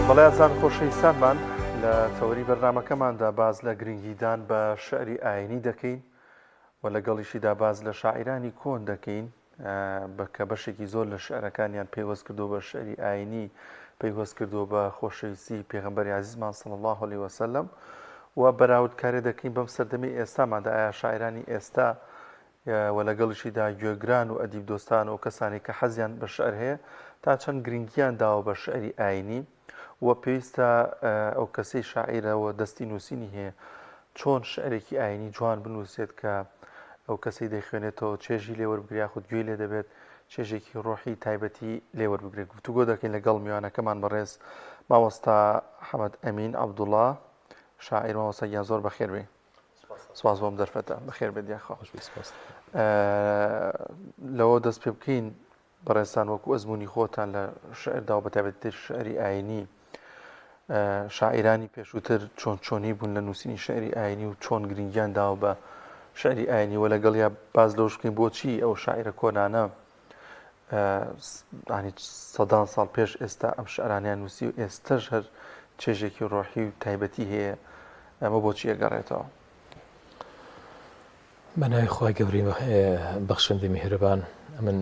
بەڵێ ئازان خۆشەویستانمان لە تەوەری بەرنمەکەماندا باز لە گرنگیدان بە شعری ئاینی دەکەین و لەگەڵیشیدا باز لە شاعرانی کۆن دەکەین بەکە بەشێکی زۆر لە شعرەکانیان پەیوەست کردو بە شعری ئاینی پەیوەست کردو بە خۆشەویستی پێغمبەری عزیزمان سڵ الله عليه وسلم و بەراوردکارێ دەکەین بەم سەردەمی ئێستامادا ئایا شاعرانی ئێستا و لەگەڵیشیدا گوێگران و ئەدیب دۆستان و کەسانێک کە حەزیان بە شعر هەیە تا چەند گرنگییان داوە بە شعری ئایینی و پێویستە ئەو کەسەی شاعیرە و دەستی نووسینی هەیە چۆن شعرێکی ئایینی جوان بنووسێت کە ئەو کەسەی دەیخوێنێتەوە چێژی لێ وەربگری یاخود گوێی لێ دەبێت چێژێکی ڕۆحی تایبەتی لێ وەربگرێت گفتوگۆ دەکەین لەگەڵ میوانەکەمان بەڕێز مامۆستا حەمەد ئەمین عەبدوڵڵا شاعیر مامۆستا گیان زۆر بەخێر بێی سپاس بۆم دەرفەتە بەخێر بێت یاخوا خۆش بێت سپاس لەوە دەست پێ بکەین بەڕێستان وەکو ئەزمموی خۆتان لە شعردا و بەتابێت تر شعری ئاینی شاعرانی پێشووتر چۆن چۆنی بوون لە نووسینی شعری ئاینی و چۆن گرنگیان داوە بە شعری ئاینی وە لەگەڵ یا باز لەوش بکەین بۆچی ئەو شاعرە کۆنانە ئانی سەدان ساڵ پێش ئێستا ئەم شعرانیان نووسی و ئێستەش هەر چێژێکی ڕۆحی و تایبەتی هەیە ئەمە بۆچی ئەگەڕێتەوە بەناوی خخوای گەوری بەخشندی میهرەبان ئەمن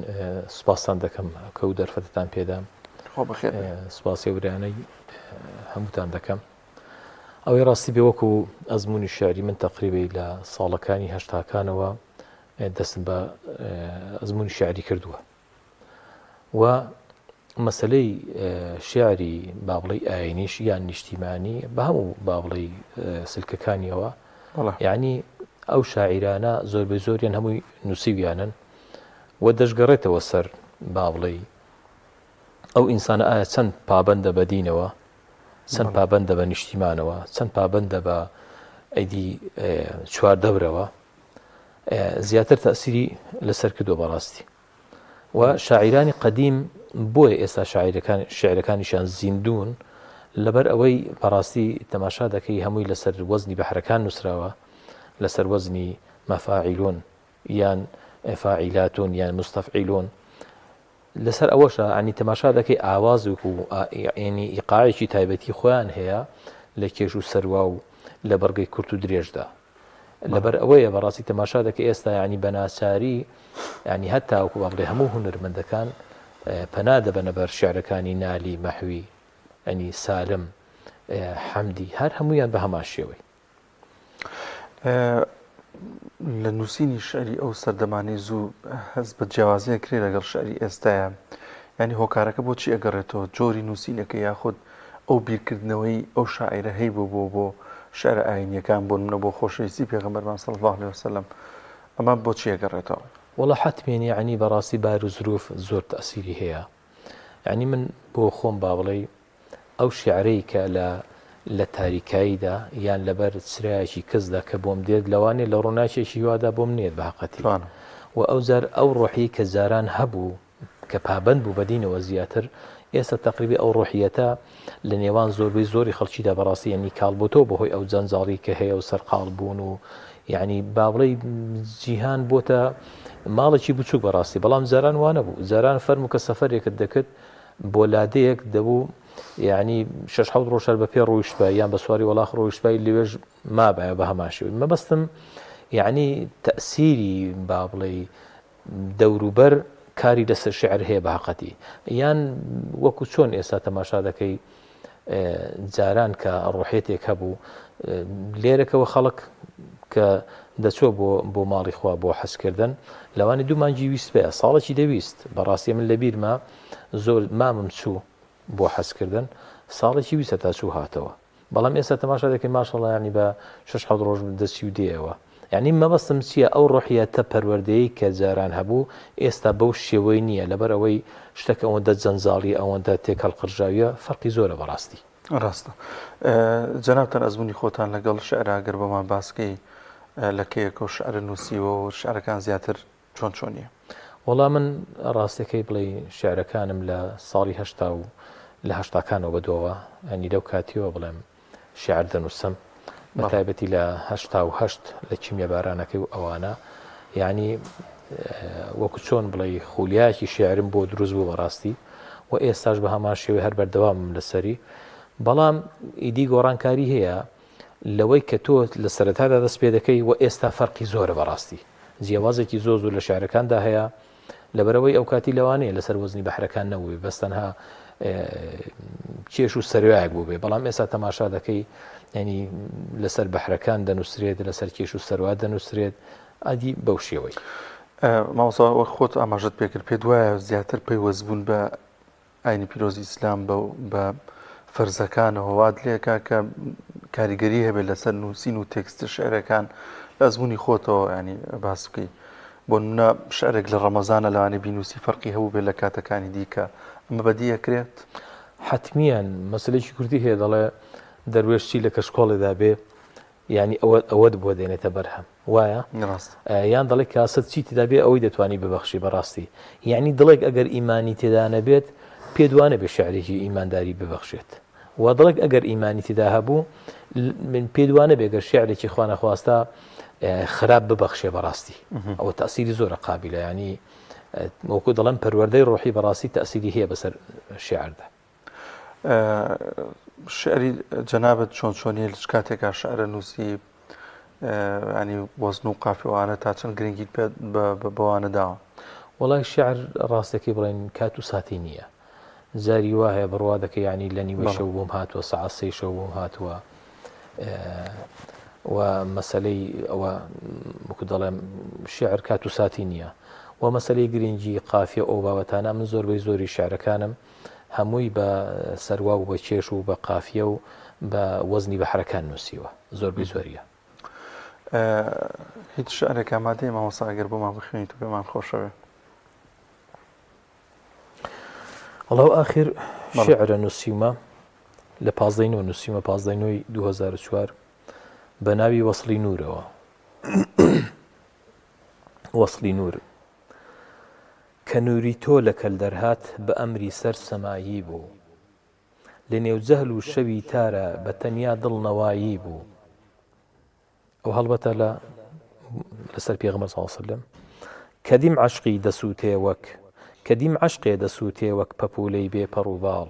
سوپاستان دەکەم کە و دەرفەتتان پێدام سوپاسی ورانەی هەمووتان دەکەم ئەوەی ڕاستی بێوەکو ئەزمموی شعری من تەقریبی لە ساڵەکانی هەشتاکانەوە دەستم بە ئەزمونی شعری کردووە و مەسلەی شعری بابڵی ئاینیش یان نیشتیمانی بە هەموو بابڵی سلکەکانیەوە یعنی ئەو شاعیرانە زۆر بە زۆریان هەمووی نووسیویانن و دەشگەڕێتەوە سەر بابڵی ئەو ئینسانە ئایا چەند پابندە بەدینەوە چەند پابندە بە نیشتیمانەوە چەند پابندە بە ئەیدی چوار دەورەوە زیاتر تەئسیری لەسەر کردوە بەڕاستی و شاعیرانی قەدیم بۆیە ئێستا شاعیرەکان شعرەکانیشان زیندون لەبەر ئەوەی بەڕاستی تەماشا دەکەی هەمووی لەسەر وەزنی بەحرەکان نووسراوە لەسەر وەزنی مەفاعیلون یان فاعیلاتون یان مستەفعیلون لەسەر ئەوەشە عنی تەماشا دەکەی ئاوازوک و ینی ئیقاعێکی تایبەتی خۆیان هەیە لە کێش و سەروا و لە بڕگەی کورت و درێژدا لەبەر ئەوەیە بەڕاستی تەماشا دەکە ئێستا ینی بەناچاری ینی هەتاوەکو با بڵێ هەموو هونەرمەندەکان پەنا دەبەنە بەر شعرەکانی نالی مەحوی ئەنی سالم حەمدی هەر هەمویان بە هەمان شێوەی لە نووسینی شعری ئەو سەردەمانەی زوو هەست بە جیاوازیان کرێ لەگەڵ شعری ئێستاە ینی هۆکارەکە بۆچی ئەگەڕێتەوە جۆری نووسینەکە یاخود ئەو بیرکردنەوەی ئەو شاعرە هەی بۆ بۆ بۆ شعر ئاینیەکان بۆ منە بۆ خۆشەویستی پێغمبەرمان سەڵ الله عليه وسلم ئەمە بۆچی ئەگەڕێتەوە وڵە حتمێنی عنی بەڕاستی بار و زروف زۆر تەسیری هەیە ینی من بۆ خۆم با بڵێ ئەو شیعرەی کە لە لە تاریکاییدا یان لەبەر چرایەکی کزدا کە بۆم دێت لەوانەیە لە ڕووناکێکی هیوادا بۆم نێت بە هەقەتی و ئەوجار ئەو ڕۆحیەی کە جاران هەبوو کە پابەند بوو بە دینەوە زیاتر ئێستا تەقریبی ئەو ڕۆحیەتە لە نێوان زۆربەی زۆری خەڵکیدا بەڕاستی یعنی کاڵ بۆتەوە بەهۆی ئەو جەنجاڵی کە هەیە و سەرقاڵ بوون و یعنی بابڵی جیهان بۆتە ماڵێکی بچووک بەڕاستی بەڵام جاران وانە بوو جاران فەرمو کە سەفرێکت دەکرد بۆ لادێیەک دەبوو یعنی شش حەوت ڕۆژ هەر بە پێ ڕۆیشتبای یان بە سواری وەڵاخ ڕۆیشتبای لەوێش مابایە بە هەمان شێوەی مەبەستم یعنی تەسیری با بڵێ دەوروبەر کاری لەسەر شعر هەیە بە هەقەتی یان وەکو چۆن ئێستا تەماشا دەکەی جاران کە ڕۆحێتێک هەبوو لێرەکەەوە خەڵک کە دەچۆ بۆ بۆ ماڵی خوا بۆ حەزکردن لەوانی دوو مانجی ویست پێ ساڵێکی دەویست بەڕاستی من لە بیرمە زۆر مامم چوو بۆ حەزکردن ساڵێکی ویسە تا چوو هاتەوە بەڵام ئێستا تەماشا دەکەین ماشەڵیانی بە شش حەڵ ڕۆژ دەچی و دێەوە یانی مەبەستم چیە ئەو ڕۆحیەتە پەروەردەیەی کە جاران هەبوو ئێستا بەو شێوەی نیە لەبەر ئەوەی شتەکە ئەوەندە جەنجاڵیە ئەوەندە تێکهەڵقرژاویە فەرقی زۆرە بەڕاستی. ڕاستە جەنابتان ئەزمونی خۆتان لەگەڵ شعرا گەر بۆمان باس کەی لە کەیەکەو شعرت نوسیوەو شعرەکان زیاتر چۆن چۆنیە؟ وەڵا من ڕاستەکەی بڵێ شعرەکانم لە ساڵی هەشتا و لە هەشتاکانەوە بەدواوە ئەنی لەو کاتیەوە بڵێم شعر دەنووسم بە تایبەتی لە هەشتا و هەشت لە کیمیە بارانەکەی و ئەوانە یعنی وەکو چۆن بڵێ خولیاکی شعرم بۆ دروست بوو بەڕاستی و ئێستاش بە هەمان شێوەی هەر بەردەوام لەسەری بەڵام ئیدی گۆڕانکاری هەیە لەوەی کە تۆ لە سەرەتادا دەست پێ دەکەی و ئێستا فەرقی زۆرە بەڕاستی جیاوازێکی زۆر زۆر لە شعرەکاندا هەیە لەبەرئەوەی ئەوکاتی لەوانەیە لەسەر وەزنی بەحرەکان نەبووبێ بەس تەنها کێش و سەروایەک بوو بێ بەڵام ئێستا تەماشا دەکەی ینی لەسەر بەحرەکان دەنووسرێت لەسەر کێش و سەروا دەنووسرێت ئادی بەو شێوەی ماوەسا وەک خۆت ئاماژت پێکرد پێ دوایە زیاتر پەیوەستبوون بە ئاینی پیرۆزی ئیسلام بە فەرزەکانەوە وات لێکا کە کاریگەری هەبێت لەسەر نووسین و تێکستە شعرەکان لە ئەزمموی خۆتەوە ینی باس بکەیت بۆ منە شعرێک لە ڕەمەزانە لەوانی بینوسی فەرقی هەبوو بێت لە کاتەکانی دیکە ئەمە بەدیەکرێت حتممیان مەسلێکی کوردی هەیە دەڵێ دەروێشتی لە کەشکۆڵێدا بێ یانی ئەوە ئەوەت بۆ دێنێتە بەرهەم وایە؟ ڕاستە. یان دەڵێی کاسەت چی تێدا بێ ئەوەی دەتوانی ببەخشی بە ڕاستی. یانی دڵێک ئەگەر ئیمانی تێدا نەبێت پێت وا نەبێ شیعرێکی ئیمانداری ببەخشێت. و دڵێک ئەگەر ئیمانی تێدا هەبوو من پێت وا نەبێ گەر شیعرێکی خوا نەخواستە خراپ ببەخشێ بە ڕاستی. ئەوە تەسیری زۆرە قابلە ینی وەکو دەڵێم پەروەردەی ڕۆحی بە ڕاستی تەسیری هەیە بەسەر شیعردا. شعری جەنابت چۆن چۆنیە لچ کاتێکا شعرە نووسی ینی وەزن و قافیوانە تا چەند گرنگیت پێ بەوانە داوە وڵای شعر ڕاستەکەی بڵێن کات و ساتی نییە جاری وا هەیە بڕوا دەکە ینی لە نیوە شەو بۆم هاتووە سعسی شەو بۆم هاتووە و مەسلەی ئەوە مکو دەڵێم شعر کات و ساتی نییە و مەسلەی گرنگی قافیە ئەو بابەتانە من زۆربەی زۆری شعرەکانم هەمووی بە سەروا و بە کێش و بە قافیە و بە وەزنی بەحرەکان نووسیوە زۆربەی زۆریە. هیچ شعرێک ئامادەیە مامۆستا ئەگەر بۆمان بخوێنیت و پێمان خۆشەوێ وڵا و ئاخر شعرە نووسیمە لە پازدەی نۆ نووسیمە پازدەی نۆی 2004 بە ناوی وەصلی نورەوە وەصلی نور کە نووری تۆ لە کەل دەرهات بە ئەمری سەر سەمایی بوو لە نێو جەهل و شەوی تارا بە تەنیا دڵ نەوایی بوو ئەو هەڵبەتە لە لەسەر پێغمە ساڵسلم کە دیم عشقی دەسووتێ وەک کە دیم عشقێ دەسووتێ وەک پەپولەی بێ پەڕوباڵ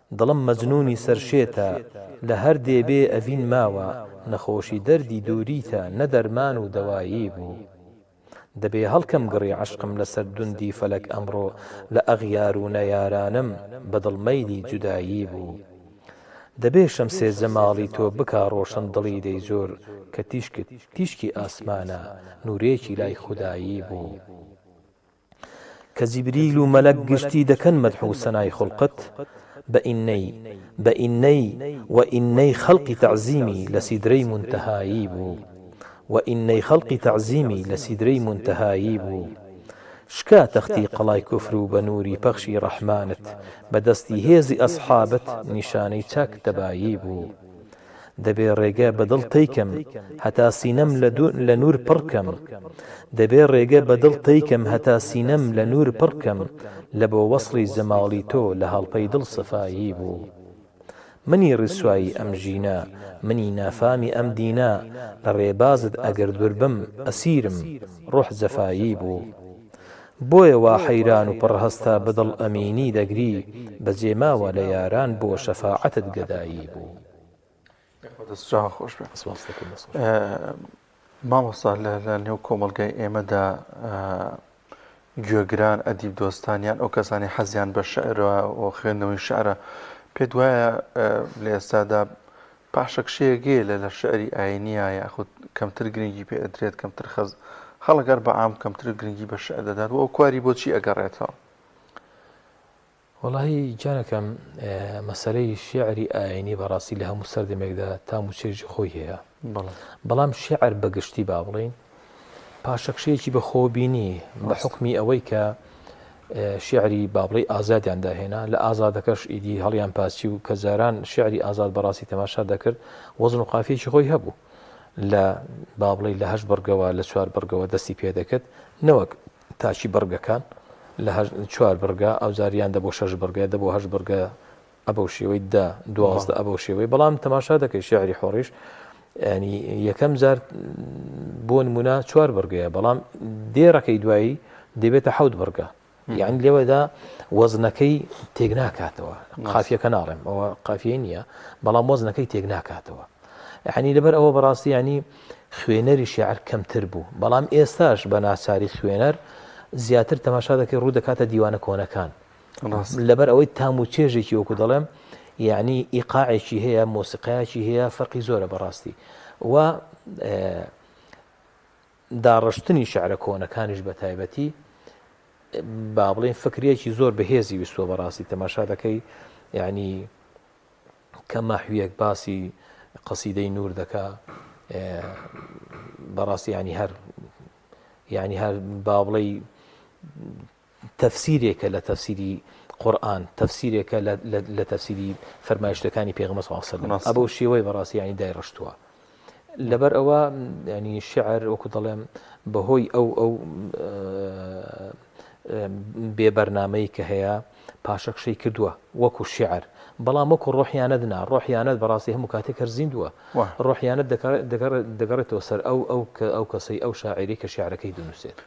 دڵم مەجنونی سەر شێتە لە هەر دێ بێ ئەڤین ماوە نەخۆشی دەردی دووریتە نە دەرمان و دەوایی بوو دەبێ هەڵکەم گڕی عەشقم لە سەر دوندی فەلەک ئەمڕۆ لە ئەغیار و نەیارانم بە دڵ مەیلی جودایی بوو دەبێ شەمسێ جەماڵی تۆ بکا ڕۆشن دڵی دەی جۆر کە تیشکت تیشکی ئاسمانە نوورێکی لای خودایی بوو. کە جیبریل و مەلەک گشتی دەکەن مەدح و سەنای خوڵقت بە ئینەی بە ئینەی وە ئینەی خەڵقی تەعزیمی لە سیدرەی مونتەهایی بوو وە ئینەی خەڵقی تەعزیمی لە سیدرەی مونتەهایی بوو شکا تەختی قەڵای کوفر و بە نووری پەخشی ڕەحمانت بە دەستی هێزی ئەسحابت نیشانەی چاک تەبایی بوو. دەبێ ڕێگە بە دڵ تەی کەم هەتا سینەم لە نوور پڕ کەم دەبێ ڕێگە بە دڵ تەی کەم هەتا سینەم لە نوور پڕ کەم لە بۆ وەسڵی جەماڵی تۆ لە هەڵپەی دڵ سەفایی بوو منی ڕیسوایی ئەم ژینە منی نافامی ئەم دینە لە ڕێبازت ئەگەر دوور بم ئەسیرم ڕۆح جەفایی بوو بۆیە وا حەیران و پڕ هەستا بەدڵ ئەمینی دەگری بەجێ ماوە لە یاران بۆ شەفاعەتت گەدایی بوو. مامۆستا لە نێو کۆمەڵگای ئێمەدا گوێگران ئەدیب دۆستان یان ئەو کەسانی حەزیان بە شعرەوە و خوێندنەوەی شعرە پێت وایە لە ئێستادا پاشەکشەیەگەیە لە لە شعری ئاینییە یاخود کەمتر گرنگی پێ ئەدرێت کەمتر خەز خەڵک هەر بە عام کەمتر گرنگی بە شعر دەدات و ئەو کواری بۆ چی ئەگەڕێتەوە؟ وەڵاهی گیانەکەم مەسەرەی شعری ئاینی بەڕاستی لە هەموو سەردەمێکدا تام و چێژی خۆی هەیە بەڵام شعر بەگشتی با بڵین پاشەکشەیەکی بەخۆبینی بە حکمی ئەوەی کە شعری بابڵی ئازادیان داهێنا لە ئازادەکەش ئیدی هەڵیان پاسی و کە جاران شعری ئازاد بەڕاستی تەماشا دەکرد وەزن و قافیەکی خۆی هەبوو لە بابڵی لە هەش بڕگەوە لە چوار بڕگەوە دەستی پێدەکرد نەوەک تاچی بڕگەکان لە چوار بڕگە ئەو جاریان دە بۆ شەش بڕگە دە بۆ هەش بڕگە ە بەو شێوەی دە دوازدە ە بەو شێوەی بەڵام تەماشا دەکەی شعری حۆڕیش ینی یەکەم جار بۆ نمونە چوار بڕگەیە بەڵام دێڕەکەی دوایی دەبێتە حەوت بڕگە یان لێوەدا وەزنەکەی تێک ناکاتەوە قافیەکە ناڵێم ئەوە قافیە نییە بەڵام وەزنەکەی تێک ناکاتەوە یعنی لەبەر ئەوە بەڕاستی ینی خوێنەری شعر کەمتر بوو بەڵام ئێستاش بە ناچاری خوێنەر زیاتر تەماشا دەکەی ڕوو دەکاتە دیوانە کۆنەکان لەبەر ئەوەی تام و چێژێکی وەکو دەڵێم یعنی ئیقاعێکی هەیە مۆسیقایەکی هەیە فەرقی زۆرە بەڕاستی و داڕشتنی شعرە کۆنەکانیش بە تایبەتی با بڵێن فکرێکی زۆر بەهێزی ویستوە بەڕاستی تەماشا دەکەی یعنی کە ماحویەک باسی قەسیدەی نور دەکا بەڕاستی ینی هەر یعنی هەر با بڵێ تەفسیرێکە لە تەفسیری قورئان، تەفسیرێکە لە تەفسیری فەرمایشتەکانی پێغەمبەر صلی اللە علیە و سلم، بەو شێوەیە بەڕاستی یانی دایڕشتووە. لەبەر ئەوە یانی شیعر وەکو دەڵێم بەهۆی ئەو ئەو بێ بەرنمەی کە هەیە پاشەکشەی کردووە وەکو شعر بەڵام وەکو ڕۆحیانەت نا ڕۆحیانەت بەڕاستی هەموو کاتێک هەر زیندووە ڕۆحیانەت دەگەڕێتەوە سەر ئەو ئەو کە ئەو کەسەی ئەو شاعری کە شعرەکەی دونووسێت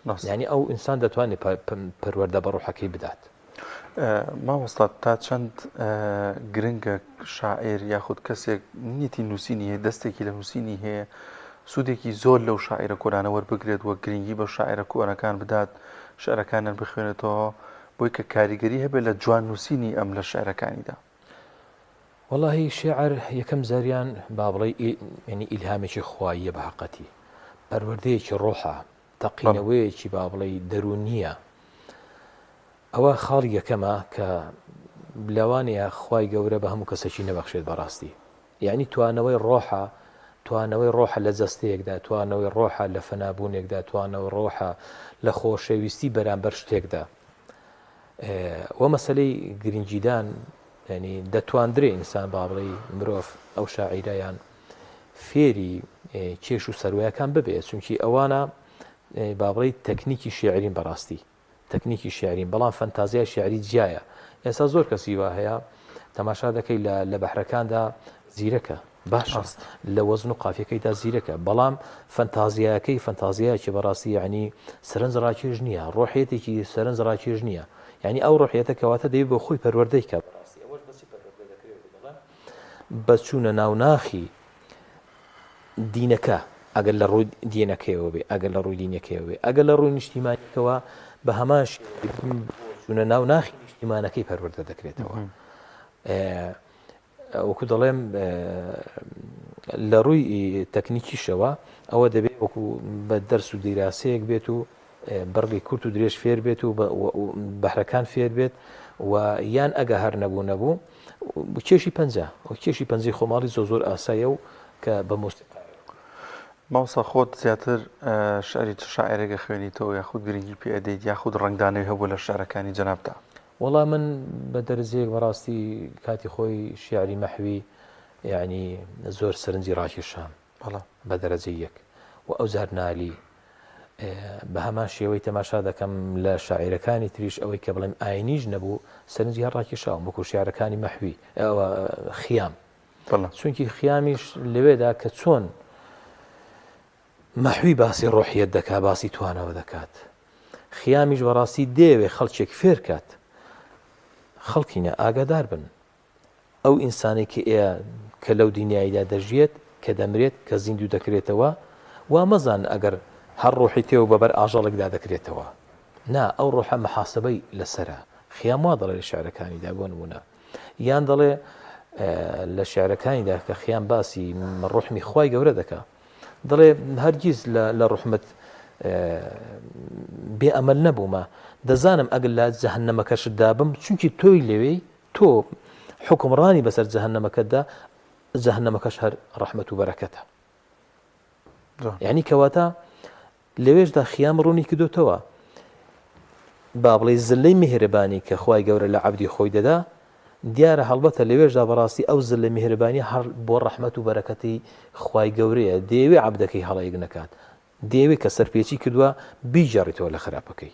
مامۆستا. یانی ئەو ئینسان دەتوانێ پەروەردە بە ڕوحەکەی بدات. مامۆستا تا چەند گرنگە شاعیر یاخود کەسێک نیەتی نووسینی هەیە دەستێکی لە نووسینی هەیە سوودێکی زۆر لەو شاعیرە کۆرانە وەربگرێت وە گرنگی بە شاعرە کۆرەکان بدات شعرەکانیان بخوێنێتەوە بۆی کە کاریگەری هەبێت لە جوان نووسینی ئەم لە شعرەکانیدا. وەڵاهی شێعر یەکەم زاریان با بڵێ ینی ئیلهامێکی خواییە بە حقەتی پەروەردەیەکی ڕۆحە تەقینەوەیەکی با بڵێ دەرونیە ئەوە خاڵی یەکەمە کە بلەوانەیە خی گەورە بە هەموو کەسێکی نەبەخشێت بەڕاستی یەعنی توانەوەی ڕۆحە، توانەوەی ڕۆحە لە جەستەیەکدا، توانەوەی ڕۆحە لە فەنابوونێکدا، توانەوەی ڕۆحە لە خۆشەویستی بەرامبەر شتێکدا. وە مەسەلەی گرنگیدان یعنی دەتواندرێ ئینسان با بڵێ مرۆڤ ئەو شاعیرە یان فێری کێش و سەروایەکان ببێت چونکی ئەوانە بابڕی تەکنیکی شێعرین بەڕاستی تەکنیکی شیعریم بەڵام فەنتازیای شیعری جیایە ئێستا زۆر کەسی وا هەیە تەماشا دەکەی لە لە بەحرەکاندا زیرەکە باشە لە وەزن و قافیەکەیدا زیرەکە بەڵام فەنتازیایەکەی فەنتازیایکی بەڕاستی ینی سەرنج ڕاکێش نییە ڕۆحێتێکی سەرنج ڕاکێش نییە ینی ئەو ڕۆحێتە کەواتە دەی بۆ خۆی پەروەردەی کە بەچوونە ناوناخی دینەکە، ئەگەر لە ڕووی دینەکەیەوە بێ، ئەگەر لە ڕووی دینەکەیەوە بێ، ئەگەر لە ڕووی نیشتیمانیەکەوە بە هەمان شێوە دین چوونە ناو ناخی نیشتیمانەکەی پەروەردە دەکرێتەوە. وەکو دەڵێم لە ڕووی تەکنیکیشەوە ئەوە دەبێت وەکو بە دەرس و دیراسەیەک بێت و بڕگەی کورت و درێژ فێر بێت و بەهرەکان فێر بێت و یان ئەگە هەر نەبوو نەبوو کێشی پەنجە و کێشی پەنجی خۆماڵی زۆ زۆر ئاسایە و کە بە مۆسیقا ماوسا خۆت زیاتر شعری چ شاعرێکە خوێنیتەوە یاخود گرنگی پێدەیت یاخود ڕنگدانەوەی هەبوو لە شعرەکانی جەنابدا وەڵام من بە دەرزێک بەڕاستی کاتی خۆی شیعری مەحوی یعنی زۆر سەرنجی ڕاکێشام بەڵام. بە دەرەجەی یەک. و ئەوجار نالی. بە هەمان شێوەی تەماشا دەکەم لە شاعیرەکانی تریش ئەوەی کە بڵێم ئاینیش نەبوو سەرنجی هەر ڕاکێشاوم وەکو شیعرەکانی مەحوی ئەوە خیام چونکی خیامیش لەوێدا کە چۆن مەحوی باسی ڕۆحیت دەکا باسی توانەوە دەکات خیامیش بەڕاستی دێوێ خەڵکێک فێرکات خەڵکینە ئاگادار بن ئەو ئینسانەی کە ئێە کە لەو دنیایدا دەژیێت کە دەمرێت کە زیندوو دەکرێتەوە وا مەزان ئەگەر هەر ڕۆحی تێو بە بەر ئاژەڵێکدا دەکرێتەوە نا ئەو ڕۆحە محاسبەی لەسەرە خیام وا دەڵێ لە شعرەکانیدا بۆ نمونە یان دەڵێ لە شعرەکانیدا کە خیان باسی ڕحمی خی گەورە دەکە دەڵێ هەرگیز لە ڕحمت بێ ئەمەل نەبوومە دەزانم ئەگەر لە جەهنەمەکەشدا بم چونکی تۆی لەوێی تۆ حوکمڕانی بەسەر جەهەنەمەکەتدا جەهەنەمەکەش هەر ڕەحمەت و بەرەکەتە یعنی کەواتە لەوێشدا خیام ڕوونی کردوتەوە با بڵێ زلەی میهرەبانی کە خی گەورە لە عبدی خۆی دەدا دیارە هەڵبەتە لەوێشدا بەڕاستی ئەو زل لە میهرەبانی هەر بۆ ڕەحمەت و بەرەکەتی خی گەورەیە دەیەوێ عبدەکەی هەڵەیەک نەکات دەیەوێت کە سەرپێچی کردووە بیجارڕیتەوە لە خراپەکەی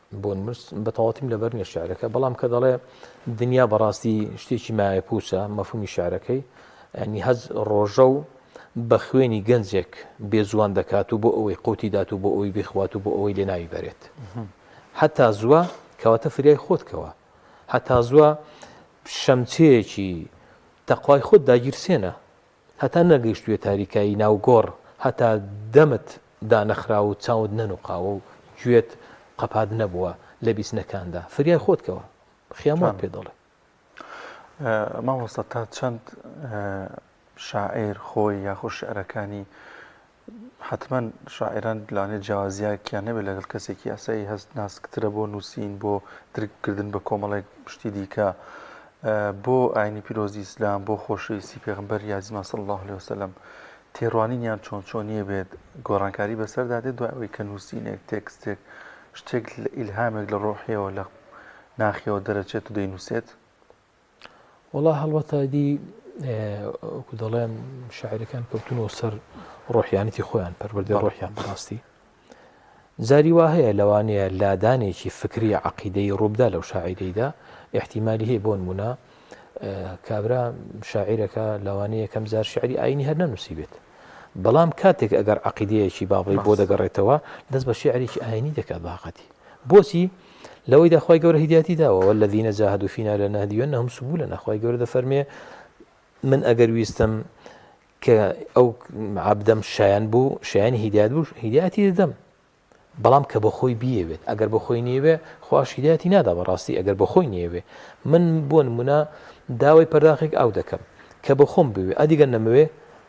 بۆن مرس بە تەواوتیم لەبەر نیە شعرەکە بەڵام کە دەڵێ دنیا بەڕاستی شتێکی مایە پوچە مەفهومی شعرەکەی ئەنی هەز ڕۆژە و بە خوێنی گەنجێک بێزوان دەکات و بۆ ئەوەی قوتی دات و بۆ ئەوەی بخوات و بۆ ئەوەی لێ ناوی بەرێت هەتا زووە کەواتە فریای خۆتکەوە هەتا زووە شەمچەیەکی تەخوای خۆت داگیرسێنە هەتا نەگەیشتوویە تاریکایی ناو گۆڕ، هەتا دەمت دانەخراوە و چاوت نەنووقاوە و گوێت قەپات نەبووە لە بیستنەکاندا، فریای خۆت کەوە. خیام وات پێ دەڵێ. مامۆستا تا چەند شاعیر خۆی یاخۆ شیعرەکانی حەتمەن شاعیران لەوانەیە جیاوازییەکیان نەبێت لەگەڵ کەسێکی ئاسایی، هەست ناسکترە بۆ نووسین، بۆ درککردن بە کۆمەڵێک شتی دیکە، بۆ ئایینی پیرۆزی ئیسلام، بۆ خۆشەویستی پێغەمبەری ئازیزمان صلی اللە علیە وسلم، تێڕوانینیان چۆن چۆنییە بێت، گۆڕانکاری بەسەردا دێت دوای ئەوەی کە نووسینێک، تێکستێک، شتێک، ئیلهامێک لە ڕۆحییەوە، لە ناخییەوە دەرەچێت و دەینووسێت. وەڵا هەڵبەتە ئەیدی وەکو دەڵێن شاعیرەکان کەوتنەوە سەر ڕۆحیانەتی خۆیان پەروەردەی ڕۆحیان بەڕاستی جاری وا هەیە لەوانەیە لادانێکی فکری عقیدەی ڕووبدا لەو شاعیرەیدا احتیممالی هەیە بۆن بوونە کابرا شاعیرەکە لەوانەیە کەم جار شعری ئاینی هەر نەنووسی بێت بەڵام کاتێک ئەگەر عقیدەیەکی بابڵی بۆ دەگەڕێتەوە دەست بە شعرێکی ئاینی دەکات باقەتی بۆچی لەوەیدا خوای گەورە هیدایەتی داوە والذین جاهدوا فینا لنهدینهم سبلنا خوای گەورە دەفەرمێ من ئەگەر ویستم کە ئەو عبدەم شایان بوو شایانی هیدایەت بوو هیدایەتی دەدەم بەڵام کە بە خۆی بیەوێت ئەگەر بە خۆی نیەوێ خواش هیدایەتی نادا بەڕاستی ئەگەر بە خۆی نیەوێ من بۆ نمونە داوای پەرداخێک ئاو دەکەم کە بە خۆم بوێ ئەدیگە نەمەوێ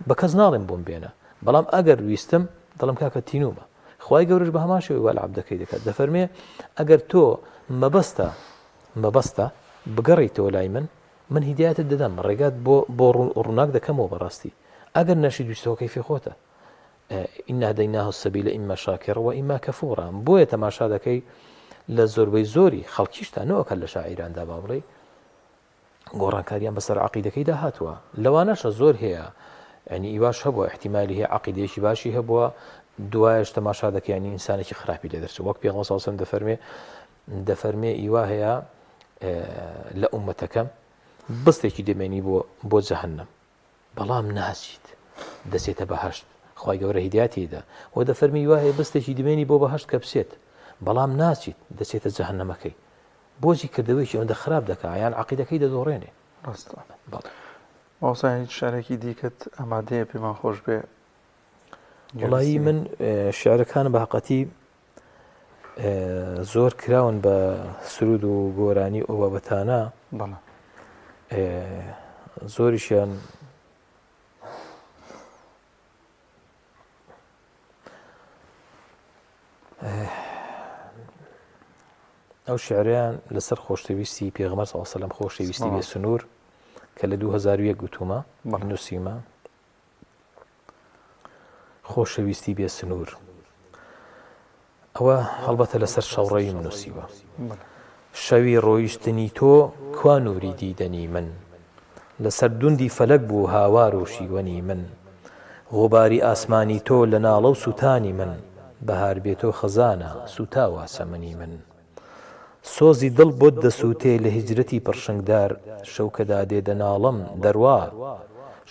بە کەس ناڵێم بۆم بێنە بەڵام ئەگەر ویستم دڵم کاکە تینومە خوای گەورەش بە هەمان شێوەی وا لە عەبدەکەی دەکات دەفەرمێ ئەگەر تۆ مەبەستە مەبەستە بگەڕێیتەوە لای من من هیدایەتت دەدەم ڕێگات بۆ بۆ ڕووناک دەکەمەوە بەڕاستی ئەگەر نەشی دوستەوە کەیفی خۆتە ئینە دەیناه سەبی لە ئیمە شاکێڕەوە ئیما کە فۆڕان بۆیە تەماشا دەکەی لە زۆربەی زۆری خەڵکیشتا نەوەکە لە شاعیراندا با بڵێ گۆڕانکاریان بەسەر عقیدەکەیدا هاتووە لەوانەشە زۆر هەیە ینی ئیواش هەبووە احتیممالی هەیە عقیدێکی باشی هەبووە دوایش تەماشا دەکەیانی ئینسانێکی خراپی لە دەرچوو وەک پێغمەسەسم دەفەرمێ دەفەرمێ ئیوا هەیە لە عومەتەکەم بستێکی دەمێنی بۆ بۆ جەهنم بەڵام ناچیت دەچێتە بەهەشت خوای گەورە هیداتی دا و دەفەرمی وایە بستێکی دمێنی بۆ بەهشت کە بچێت بەڵام ناچیت دەچێتە جەهنەمەکەی بۆجی کردەوەیکی ئەوەندە خراپ دەکا یان عقیدەکەی دەدۆڕێنێ ڕاستە بەڵێ ماوسا هیچ شارێکی دیکەت ئەمادەیە پێمان خۆش بێ وڵایی من شعرەکان بە هەقەتی زۆر کراون بە سرود و گۆرانی ئەو بابەتانە بەڵە زۆریشیان ئەو شعریان لەسەر خۆشتەویستی پێغمە ساوسلم خۆشەویستی بێ سنوور کە لە 2001 گوتومە بەڵ نووسیمە خۆشەویستی بێ سنوور ئەوە هەڵبەتە لەسەر شەوڕەویم نووسیوە شەوی ڕۆیشتنی تۆ کوا نووری دیدەنی من لەسەر دوندی فەلەک بوو هاوار و شیوەنی من غوباری ئاسمانی تۆ لە ناڵە و سووتانی من بەهار بێتۆ خەزانە سوتاوە سەمەنی من سۆزی دڵ بۆت دەسووتێ لە هیجرەتی پڕشنگدار شەو کە دادێ دەناڵم، دەروا!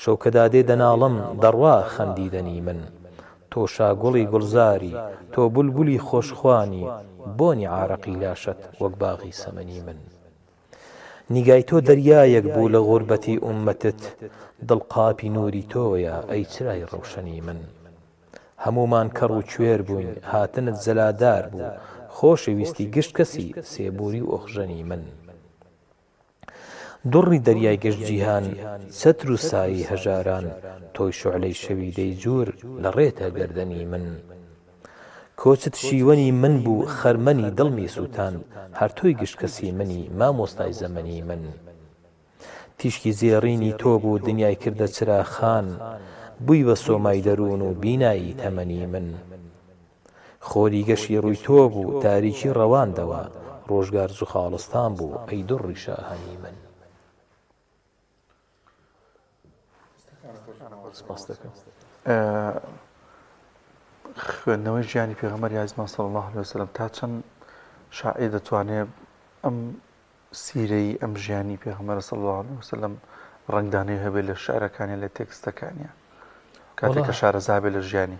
شەو کە دادێ دەناڵم، دەڕوا خەم دیدەنی من! تۆ شاگوڵی گوڵزاری، تۆ بولبولی خۆشخوانی، بۆنی عارەقی لاشەت وەک باغی سەمەنی من! نیگای تۆ دەریایەک بوو لە غوربەتی ئوممەتت دڵ قاپی نوری تۆیە ئەی چرای ڕەوشەنی من هەموومان کەڕ و کوێر بووین هاتنت زەلادار بوو خۆشی ویستی گشت کەسی سێبوری و ئۆخژەنی من دوڕی دەریای گشت جیهان چەتر و سایەی هەژاران تۆی شۆعلەی شەوی دەیجور لە ڕێتە گەردەنی من. کۆچت شیوەنی من بوو خەرمەنی دڵمی سووتاند هەر تۆی گشت کەسی منی مامۆستای زەمەنی من تیشکی زێڕینی تۆ بوو دنیای کردە چراخان بووی بە سۆمای دەروون و بینایی تەمەنی من خۆری گەشی ڕووی تۆ بوو تاریکی ڕەواندەوە ڕۆژگار زوخاڵستان بوو ئەی دڕڕی شاهانی من. خوێندنەوەی ژیانی پێغەمبەری ئازیزمان صلی اللە علیە وسلم تا چەند شاعیر دەتوانێت ئەم سیرەی ئەم ژیانی پێغەمبەر صلی اللە علیە وسلم ڕەنگدانەی هەبێت لە شعرەکانی لە تێکستەکانیان کاتێک کە شارەزابێت لە ژیانی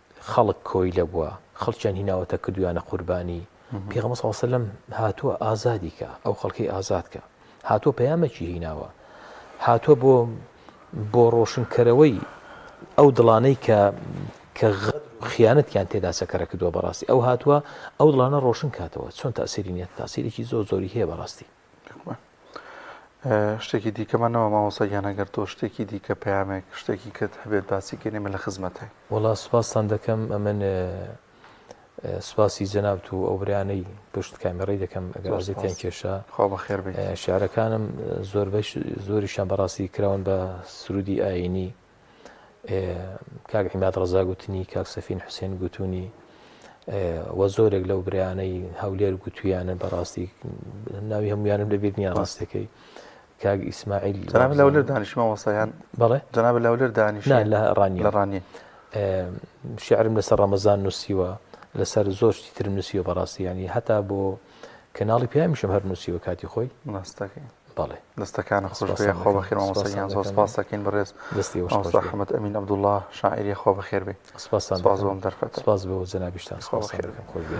خەڵک کۆیلە بوە خەڵکیان هیناوەتە کردویانە قوربانی پێغەمبەر صلی اللە علیە و سلم هاتوە ئازادی کە ئەو خەڵکی ئازاد کە هاتوە پەیامەکی هیناوە هاتوە بۆ بۆ ڕۆشنکەرەوەی ئەو دڵانەی کە کە غەد خیانەتیان تێدا سەکەرە کردووە بەڕاستی ئەو هاتووە ئەو دڵانە ڕۆشن کاتەوە چۆن تاسیری نیە تاسیرێکی زۆر زۆری هەیە بەڕاستی شتێکی دیکەمان نەما مامۆستا گیان ئەگەر تۆ شتێکی دیکە پەیامێک شتێکی کەت هەبێت باسی کەین ئێمە لە خزمەتین. وەڵا سوپاستان دەکەم ئەمن سوپاسی جەنابت و ئەو برانەی پشت کامێڕی دەکەم ئەگەر ئازێتیان کێشا خوا بەخێر بێت شعرەکانم زۆربەی زۆریشان بەڕاستی کراون بە سرودی ئاینی کاک عیماد ڕزا گوتنی کاک سەفین حوسێن گوتونی وە زۆرێک لەو برانەی هەولێر گوتویانە بەڕاستی ناوی هەمویانم لەبییر نیە ڕاستەکەی کاک ئیسماعیل جناب لەولر دانیشمە وەسەیان بڵێ جناب لەولر دانیش لە ڕانی لە ڕانی شعرم لەسەر ڕەمەزان نووسیوە لەسەر زۆر شتی ترم نووسیوە بەڕاستی ینی هەتا بۆ کەناڵی پیامیشم هەر نووسیوە کاتی خۆی ڕاستەکەی بەڵێ دەستەکانت خۆش بێ خۆ بەخێر مامۆستا گیان زۆر سپاس دەکەین بەڕێز دەستی مامۆستا حەمەد ئەمین عەبدوڵڵا شاعیری خۆ بەخێر بێ سپاس بۆ ئەم دەرفەتە سپاس بۆ جەنابیشتان سپاس بۆ خێرەکەم خۆش بێ